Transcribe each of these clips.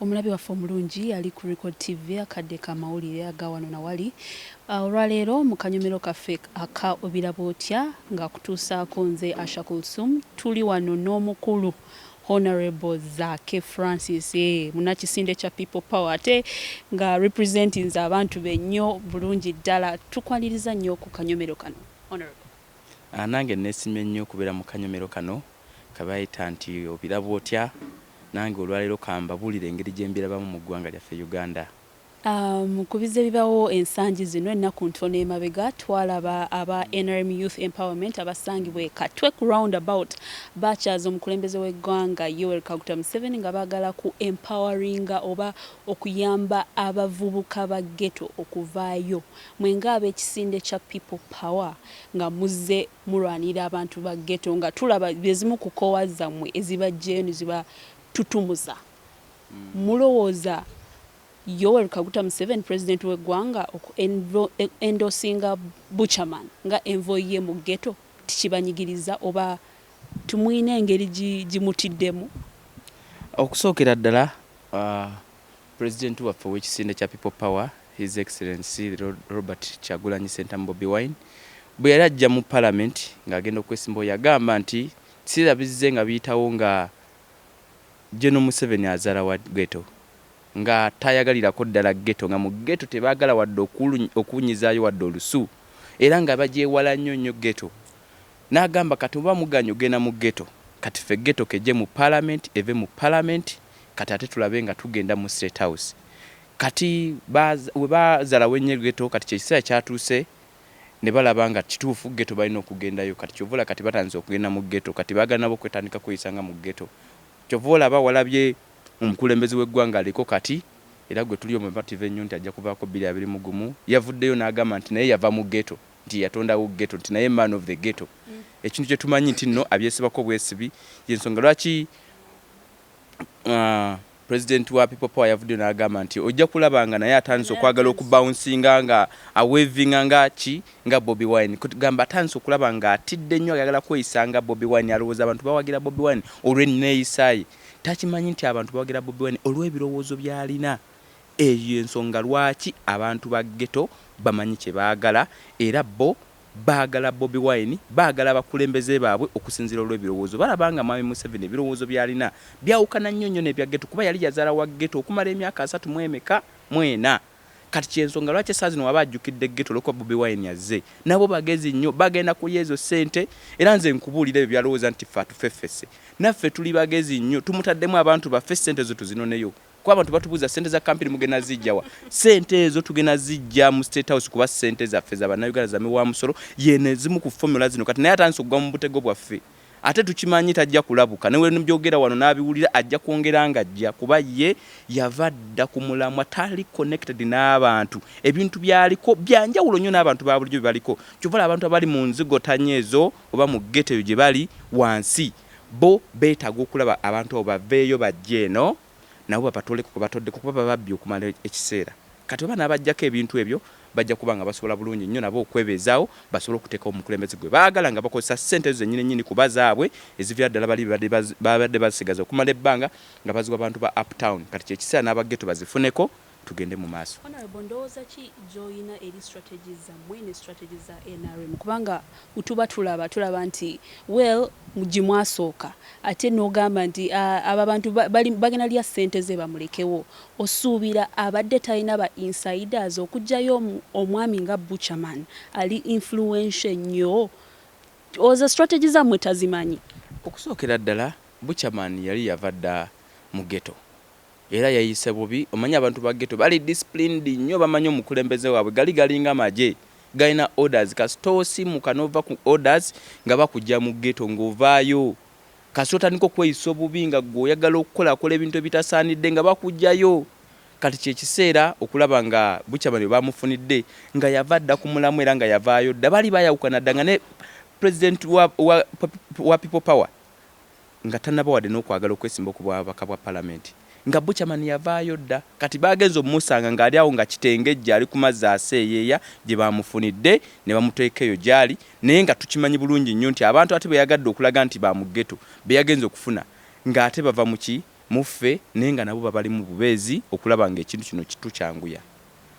Omulabi waffe omulungi ali ku Record TV akadde ka mawulire aga wano na wali. Ah, olwaleero mu kanyomero kaffe aka Obiraba Otya ng'akutuusaako nze Asha Kulsum tuli wano n'omukulu Honorable Zaake Francis eh, munakisinde kya People Power ate nga representinze abantu be nnyo bulungi ddala. Tukwaniriza nnyo ku kanyomero kano Honorable. Nange nesimye nnyo okubeera mu kanyomero kano kebayita nti obiraba otya? Nange olwaleero kambabuulire engeri gyembirabamu mu ggwanga lyaffe Uganda. Mukubize bibawo ensangi zino, ennaku ntono emabega twalaba aba nrm Youth Empowerment abasangibwa e Katwe ku round about baakyaza omukulembeze w'eggwanga Yoweri Kaguta Museveni nga baagala ku empoweringa oba okuyamba abavubuka ba Ghetto okuvaayo Mwe nga abekisinde kya people power nga muzze mulwanirira abantu ba ghetto nga tulaba zezimu ku koowa zamwe ezibajjeyo neziba tutumuza. Mulowooza Yoweri Kaguta Museveni president we gwanga oku endorsinga Buchaman nga envoy ye mu ghetto tikibanyigiriza oba timuyina engeri gimutiddemu? Okusookera ddala President waffe owekisinde kya People Power His Excellency Robert Kyagulanyi Ssentamu Bobi Wine bweyali ajja mu parliament nga agenda okwesimbawo yagamba nti kiseera bizze nga biyitawo nga General Museveni azala wa Ghetto nga tayagalirako ddala Ghetto nga mu Ghetto tebagala wadde okuwunyizayo wadde olusu era nga bagyewala nnyo nnyo Ghetto Nagamba kati oba muganye ogenda mu ghetto kati ffe ghetto kejje mu parliament eve mu parliament kati ate tulabe nga tugenda mu state house kati ba webazala wenye ghetto kati kyekisera kyatuse nebalaba nga kitufu ghetto balina okugendayo kati kyova olaba kati batandise okugenda mu ghetto kati bagala nabo okwetandika okweyisa nga mu ghetto kyova olaba walabye omukulembeze we gwanga aliko kati era gwetuli omumative enyo nti ajja kuvako bili abiri mu gumu yavuddeyo nagamba nti naye yava mu ghetto. nti yatondawo ghetto nti naye man of the ghetto ekintu kyetumanyi nti no abyesibako bwesibi yensonga lwaki uh, president wa people power yavuddeyo n'agamba nti ojja kulaba nga naye atandise okwagala okubaunsinga nga awevinga nga ki nga bobi wine kugamba atandise okulaba nga atidde nnyo ayagala kweyisa nga bobi wine alowooza abantu bawagira bobi wine olw'enneeyisaye takimanyi nti abantu bawagira bobi wine olw'ebirowoozo byalina Eyo y'ensonga lwaki abantu ba Ghetto bamanyi kye baagala era bo baagala Bobi Wine, baagala abakulembeze baabwe okusinziira olw'ebirowoozo. Balaba nga Mwami Museveni ebirowoozo by'alina byawukana nnyo nnyo n'ebya Ghetto kuba yali yazaala wa Ghetto okumala emyaka asatu mu emeka? mu ena. Kati ky'ensonga lwaki essaawa zino waba ajjukidde Ghetto olw'okuba Bobi Wine azze. Nabo bagezi nnyo, bagenda kulya ezo ssente era nze nkubuulire ebyo by'alowooza nti ffe atufeffese, naffe tuli bagezi nnyo, tumutaddemu abantu baffe ssente ezo tuzinoneyo. Kuba abantu batubuuza ssente za kampini mugenda zijja wa? Ssente ezo tugenda zijja mu State House kuba ssente zaffe za Bannayuganda za miwa musolo yeeno ezimu ku fomula zino kati naye atandise okugwa mu butego bwaffe ate tukimanyi tajja kulabuka ne webyogera wano n'abiwulira ajja kwongera nga ajja kuba ye yava dda ku mulamwa tali connected n'abantu ebintu byaliko byanjawulo nnyo n'abantu ba bulijjo bye baliko kyova abantu abali mu nzigotanya ezo oba mu ggeto eyo gye bali wansi Bo betaaga okulaba abantu abo baveeyo bajje eno nabo babatooleko kwe batoddeko kuba bababbye okumala ekiseera. Kati oba n'abaggyako ebintu ebyo bajja kuba nga basobola bulungi nnyo nabo okwebeezaawo basobole okuteekawo omukulembeze gwe baagala nga bakozesa ssente ezo zennyini nnyini kuba zaabwe eziviira ddala bali be babadde basigaza okumala ebbanga nga baziwa bantu ba uptown kati kye kiseera n'aba ghetto bazifuneko tugende mu maaso. Honourable ndowooza ki gyoyina eri strategies zammwe ne strategies za nrm kubanga bwetuba tulaba tulaba nti well gyemwasooka ate nogamba nti abo abantu bagenda lya ssente ze bamulekewo osuubira abadde talina ba insiders okujjayo omwami nga butcher man ali influential ennyo oza strategy zammwe tazimanyi. Okusookera ddala butcher man yali yava dda mu ghetto Era yeyise bubi omanyi abantu ba ghetto bali disciplined nyo bamanyi omukulembeze wabwe gali galinga magye galina orders kasita osimuka nova ku orders nga bakugya mu ghetto nga ovaayo kasita otandika okweyisa obubi nga gwe oyagala okukolakola ebintu ebitasaanidde nga bakugyayo kati kyekiseera okulaba nga bukya bano bebamufunidde nga yava dda ku mulamwa era nga yavaayo dda baali bayawukana dda nga ne president wa wa wa people power Nga tanaba wadde nokwagala okwesimbawo ku bwababaka bwa palamenti nga Buchaman yavaayo dda. Kati baagenze omusanga ng'ali awo nga kitengejja ali ku mazzi aseeyeeya gye baamufunidde ne bamuteeka eyo gy'ali naye nga tukimanyi bulungi nnyo nti abantu ate be yagadde okulaga nti ba mu Ghetto be yagenze okufuna ng'ate bava mu ki mu ffe naye nga nabo babalimu bubeezi okulaba ng'ekintu kino kitukyanguya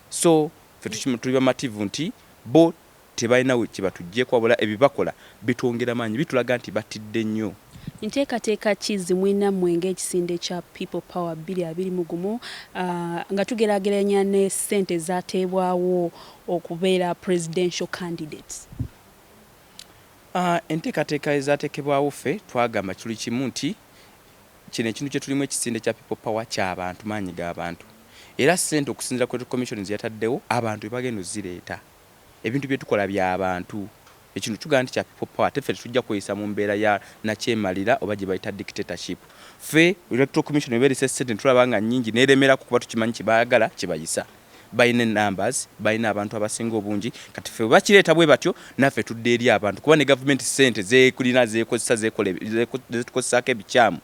so ffe tuli bamativu nti bo Tebalina kye batuggyeko wabula ebibakola bitwongera maanyi, bitulaga nti batidde nnyo. Nteekateeka ki ze mulina mmwe ng'ekisinde kya People Power bbiri abiri mu gumu nga tugeraageranya ne ssente ezaateebwawo okubeera Presidential Candidates? Enteekateeka ezaateekebwawo ffe twagamba kiri kimu nti kino ekintu kye tulimu ekisinde kya People Power kya bantu, maanyi ga bantu era ssente okusinziira ku Electoral Commission ze yataddewo abantu be bagenda okuzireeta. Ebintu bye tukola bya bantu. Ekino tugamba nti kya people power ate ffe tetujja kweyisa mu mbeera ya nakyemalira oba gye bayita dictatorship. Ffe Electoral Commission eba erese ssente ne tulaba nga nnyingi n'eremerako kuba tukimanyi kye baagala kye bayisa. Balina e numbers, balina abantu abasinga obungi kati ffe bwe bakireeta bwe batyo naffe tudda eri abantu kuba ne gavumenti ssente z'ekulina z'ekozesa zekola zetukozesaako ebikyamu.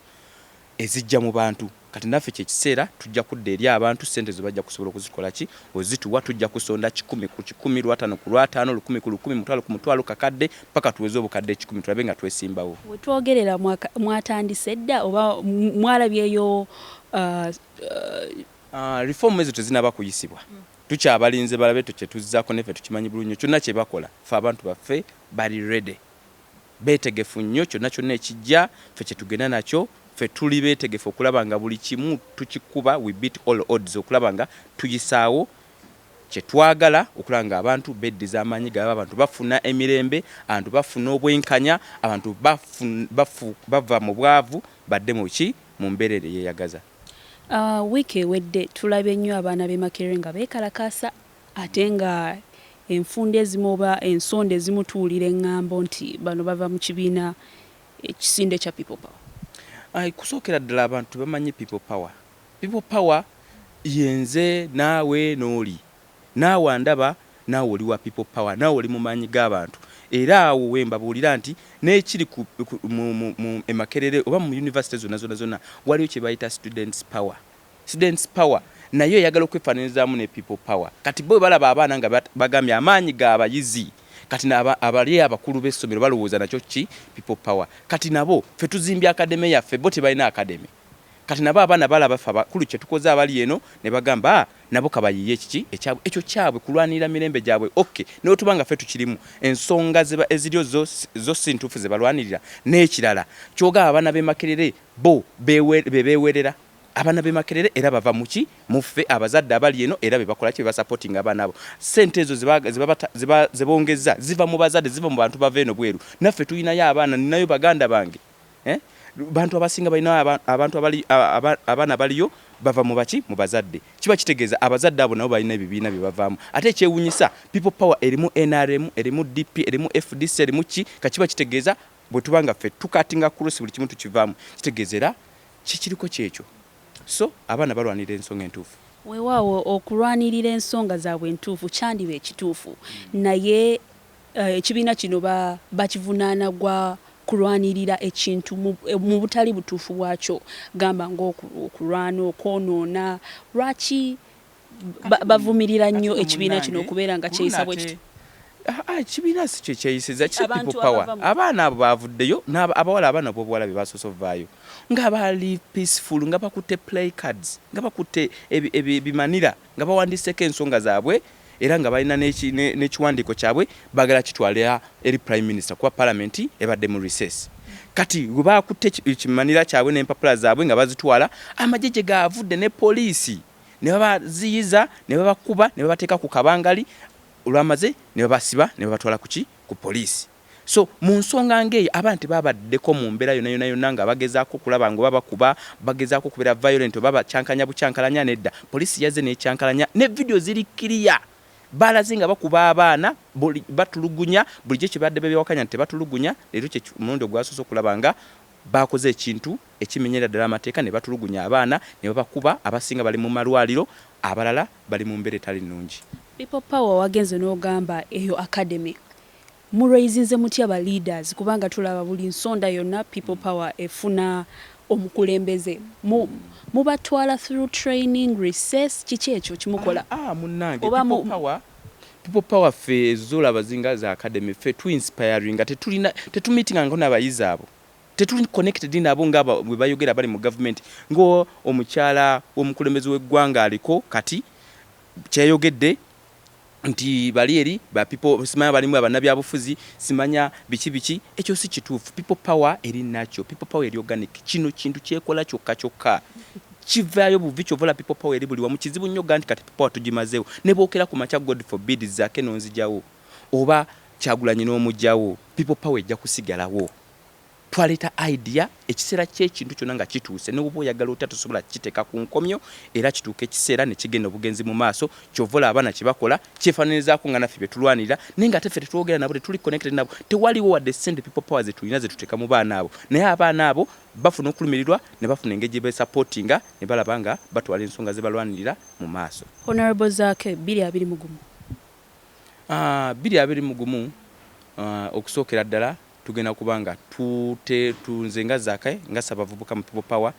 ezijja mu bantu kati naffe kye kiseera tujja kudda eri abantu ssente ezo bajja kusobola okuzikola ki ozituwa tujja kusonda kikumi ku kikumi lwataano ku lwataano lukumi ku lukumi mutwalo ku mutwalo kakadde paka tuweze obukadde ekikumi tulabe nga twesimbawo. We twogerera mwatandise dda oba mwalabyeyo uh. Uh, reform ezo tezinaba kuyisibwa tukyabalinze balabe tukyetuzzako neffe tukimanyi bulunyo kyonna kyebakola ffe abantu baffe bali ready Beetegefu nnyo kyonna kyonna ekijja ffe kyetugenda nakyo, ffe tuli beetegefu okulaba nga buli kimu tukikuba we beat all odds okulaba nga tuyisaawo kyetwagala okulaba nga abantu beddiza amaanyi gaabwe, abantu bafuna emirembe, abantu bafuna obwenkanya, abantu bafu bava mu bwavu badde mu ki mu mbeerera eyeyagaza. Wiiki ewedde tulabye nnyo abaana b'e Makerere nga beekalakaasa Ate nga enfunda ezimu oba ensonda ezimu tuwulira engambo nti bano bava mu kibiina ekisinde ekya People Power. Kusokera ddala abantu tebamanyi People Power. People Power ye nze, naawe, n'oli. Naawe andaba, naawe oli wa People Power, naawe oli mu maanyi g'abantu. Era awo we mbabuulira nti n'ekiri ku mu mu e Makerere oba mu yunivasite zonna zonna zonna waliyo kye bayita Students Power. Students power nayo eyagala okwefananyizamu ne people power kati bo bwebalaba abaana nga bagambye amaanyi ga bayizi kati na abali abakulu bessomero balowooza nakyo ki people power kati nabo fe tuzimbye academy yaffe bo tebalina academy kati nabo abaana balaba fe abakulu kyetukoze abali eno nebagamba a nabo kabayiye ekiki ekyabwe ekyo kyabwe kulwanirira mirembe gyabwe ok newetuba nga fe tukirimu ensonga zeba eziryo zo zo sintuufu zebalwanirira nekirala kyogaba abaana bemakerere bo bewe bebewerera Abana be makerere era bava muki muffe abazadde abali eno era bebakola kye basapotinga abana abo sente ezo zebongezza ziva mu bazadde ziva mu bantu bava eno bweru naffe tulinayo abaana ninayo baganda bange eh? bantu abasinga balinayo abantu abaana baliyo bava mu baki mu bazadde kiba kitegeeza abazadde abo nabo balina ebibiina bye bavaamu ate ekyewunyisa people power erimu nrm erimu dp erimu fdc erimu ki kakiba kitegeeza bwe tuba nga ffe tukatinga kurusi buli kimu tukivaamu kitegeeza era Kikiriko kyekyo so abaana balwanirira ensonga entuufu. Wewaawo okulwanirira ensonga zaabwe entuufu kyandiba ekituufu naye ekibiina kino bakivunaana gwa kulwanirira ekintu mu butali butuufu bwakyo gamba nga okulwana, okwonoona lwaki bavumirira nnyo ekibiina kino okubeera nga kyeyisa bwe kityo. Ekibiina si kye kyeyisiza, kiri people power. Abaana abo baavuddeyo, abawala abaana b'obuwala be baasoose ovaayo nga bali peaceful, nga bakutte play cards, nga bakutte ebimanira nga bawandiiseko ensonga zaabwe era nga balina n'ekiwandiiko kyabwe baagala kitwalira eri prime minister kuba palamenti ebadde mu recess. Kati we baakutte ekimanira kyabwe n'empapula zaabwe nga bazitwala, amagye gye gaavudde ne poliisi. ne babaziyiza ne babakuba ne babateeka ku kabangali olwamaze ne babasiba ne babatwala kuki ku poliisi so mu nsonga ng'eyo abaana tebabaddeko mu mbeera yona yona yona nga bagezaako okulaba nga oba bakuba bagezaako okubeera violent oba bakyankanya bukyankalanya nedda poliisi yazze nekyankalanya ne vidiyo ziri kiriya balaze nga bakuba abaana batulugunya bulijjo kyebadde bebyawakanya nti tebatulugunya leero kye omulundi ogwasoose okulaba nga bakoze ekintu ekimenyera ddala amateeka ne batulugunya abaana ne babakuba, abasinga bali mu malwaliro abalala bali mu mbeera etali nnungi. People power wagenze nogamba eyo academy mu raisinze mutya ba leaders kubanga tulaba buli nsonda yonna people power efuna omukulembeze mu mubatwala through training, recess kiki ekyo kyemukola Aa munange oba mu people power people power ffe ezo zolaba zinga za academy ffe tu inspiringa tetulina tetumeetingangako nabayizi abo Tetuli connected nabo nga bwebayogera abali mu government nga omukyala womukulembeze weggwanga aliko kati kyeyayogedde nti bali eri ba people simanya balimu abanabyabufuzi simanya biki biki ekyo si kituufu people power eri natural people power eri organic kino kintu kyekola kyokka kyokka kivaayo buvi kyovola people power eri buli wamu kizibu nnyo ganti kati people power tugimazeewo ne bwokera ku makya god forbid zake nonzijawo oba kyagulanyi n'omugyawo people power ejja kusigalawo. Twaleeta idea, ekiseera ky'ekintu kyonna nga kituuse, ne bw'oba oyagala otya tosobola kukiteeka ku nkomyo era kituuka ekiseera ne kigenda obugenzi mu maaso. Ky'ova olaba abaana kye bakola kyefaananyirizaako nga naffe bye tulwanirira naye ng'ate ffe tetwogera nabo, tetuli connected nabo, tewaliwo wadde ssente people power ze tulina ze tuteeka mu baana abo naye abaana abo bafuna okulumirirwa ne bafuna engeri gye beesapootinga ne balaba nga batwala ensonga ze balwanirira mu maaso. Honourable Zaake, bbiri abiri mu gumu. Haa, bbiri abiri mu gumu, haa, okusookera ddala, Tugenda kuba nga tute, tu, nze nga Zaake, nga ssabavubuka mu People Power,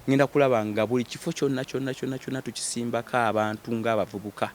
ngenda kulaba nga buli kifo kyonna kyonna kyonna kyonna tukisimbako abantu nga abavubuka.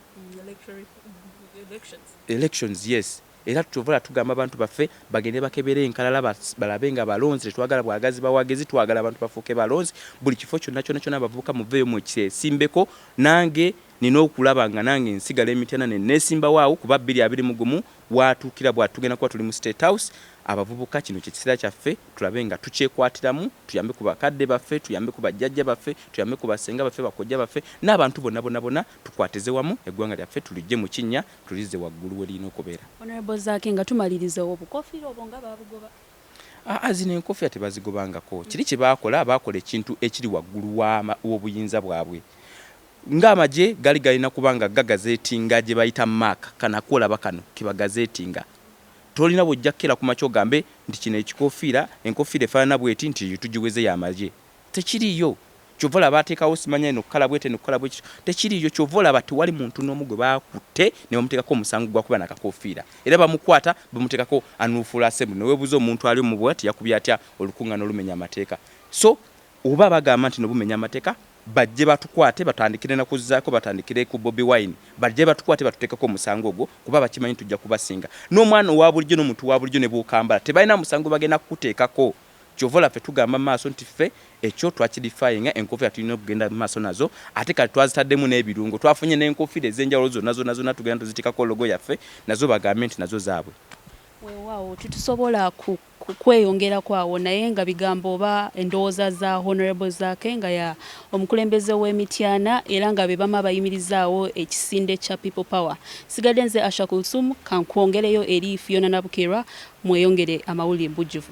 Elections, yes. Era kyova olaba tugamba abantu baffe bagende bakebere enkalala ba, balabe nga balonzi. Tetwagala bwagazi bawagizi, twagala abantu bafuuke balonzi. Buli kifo kyonna kyonna kyonna abavubuka muveeyo mwekisimbeko. Nange. Nnina okulaba nga nange nsigala e Mityana ne neesimbawo awo kuba bbiri abiri mu gumu waatuukira bwati tugenda kuba tuli mu State House. Abavubuka kino kye kiseera kyaffe tulabe nga tukyekwatiramu tuyambe ku bakadde baffe, tuyambe ku bajjajja baffe, tuyambe ku bassenga baffe, bakojja baffe n'abantu bonna bonna bonna tukwatize wamu eggwanga lyaffe tuliggye mu kinnya tulizze waggulu we lirina okubeera. Honourable Zaake nga tumaliriza obukoofiira obwo nga baabugoba? Aa zino enkoofiira tebazigobangako. Kiri kye baakola baakola ekintu ekiri waggulu w'obuyinza bwabwe. Nga amagye gali galina kuba nga gagazetinga gyebayita mark kana kwolaba kano kebagazetinga tolina bwojja kukela kumakya ogambe nti kino ekikofiira enkofiira efanana bweti nti eyo tugiweze yamagye tekiriyo kyova olaba batekawo simanya eno kala bweti eno kala bwekityo tekiriyo kyova olaba tewali muntu nomu gwebakutte nebamutekako omusango gwakuba nakakofiira era bamukwata bamutekako anuufula assembly newebuza omuntu ali omu bwati yakubye atya olukungana olumenya amateeka so Oba bagamba nti no bumenya amateka bajje batukwate batandikire nakuzako batandikire ku bobi wine bajje batukwate batutekeko omusango ogwo kuba bakimanyi tujja kubasinga nomwana owabulijo nomuntu wabulijo nebwokambala tebalina musango bagenda kukutekako kyova olaba fe tugamba maaso nti ffe ekyo twakidifayinga enkofira tulina okugenda mumaaso nazo ate kati twazitademu nebirungo twafunye nenkofira ezenjawulo zona zona zona tugenda tuzitekako logo yaffe nazo bagambe nti nazo zabwe. Wewawo tetusobola ku. kweyongerako awo naye nga bigambo oba endowooza za Honourable Zaake nga ya omukulembeze w'e Mityana era nga be bamu abayimirizaawo ekisinde kya People Power. Nsigadde nze Asha Kulthum kankwongereyo eri Phiona Nabukeerwa mweyongere amawulire mu bujjuvu.